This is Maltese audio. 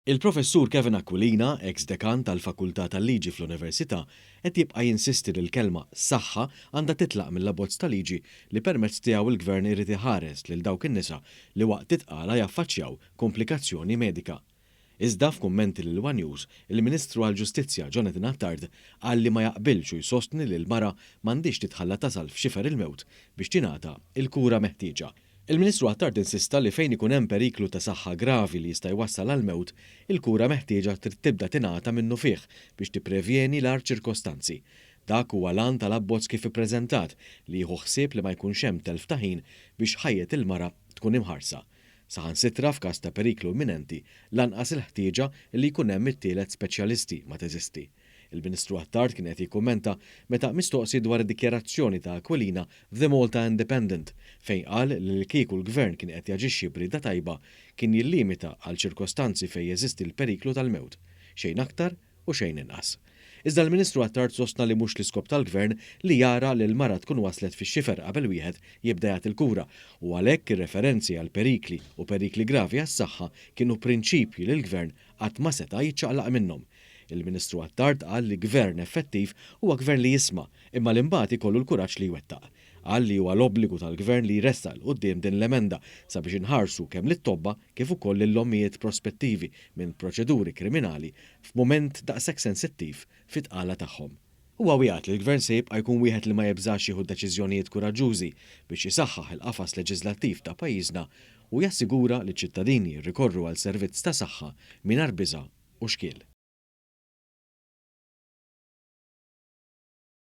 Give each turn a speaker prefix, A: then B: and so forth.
A: Il-Professur Kevin Aquilina, eks Dekan tal-Fakultà tal-Liġi fl-Università, qed jibqa' jinsisti li l-kelma 'saħħa' għandha titlaq mill-abbozz ta' liġi li permezz tiegħu l-Gvern irid iħares lil dawk in-nisa li waqt it-tqala jaffaċċjaw komplikazzjoni medika. Iżda f'kummenti lil one News, il-Ministru għall-Ġustizzja Jonathan Attard qal li ma jaqbilx u jsostni li l-mara m'għandhiex titħalla tasal f'xifer il-mewt biex tingħata l-kura meħtieġa. Il-Ministru Attard insista li fejn ikun hemm periklu ta' saħħa gravi li jista' jwassal għall-mewt, il-kura meħtieġa trid tibda tingħata minnufih biex tipprevjeni l-agħar ċirkostanzi. Dak huwa l-għan tal-abbozz kif ippreżentat li jieħu ħsieb li ma jkunx hemm telf ta' ħin biex ħajjet il-mara tkun imħarsa. Saħansitra f'każ ta' periklu imminenti, lanqas il-ħtieġa li jkun hemm it-tielet speċjalisti ma teżisti. Il-Ministru Attard kien qed jikkummenta meta mistoqsi dwar id-dikjarazzjoni ta' Aquilina f'The Malta Independent fejn qal li li kieku l-Gvern kien qed jaġixxi b'rieda tajba kien jillimita għal ċirkostanzi fejn jeżisti l-periklu tal-mewt, xejn aktar, u xejn inqas. Iżda l-Ministru Attard sostna li mhux l-iskop tal-Gvern li jara li l-mara tkun waslet fix-xifer qabel wieħed jibda jagħti l-kura u għalhekk ir-referenzi għal perikli u perikli gravi għas-saħħa kienu prinċipji li l-Gvern qatt ma seta' jiċċaqlaq minnhom. Il-Ministru Attard qal li Gvern effettiv huwa Gvern li jisma' imma li mbagħad ikollu l-kuraġġ li jwettaq. Qal li huwa l-obbligu tal-Gvern li jressaq 'l quddiem din l-emenda sabiex inħarsu kemm lit-tobba kif ukoll lill-ommijiet prospettivi minn proċeduri kriminali f'mument daqshekk sensittiv fit-tqala tagħhom. Huwa wiegħed li l-Gvern se jibqa' jkun wieħed li ma jibżax jieħu deċiżjonijiet kuraġġużi biex isaħħaħ il-qafas leġiżlattiv ta' pajjiżna u jassigura li ċ-ċittadini jirrikorru għal servizz ta' saħħa mingħajr biża' u xkiel.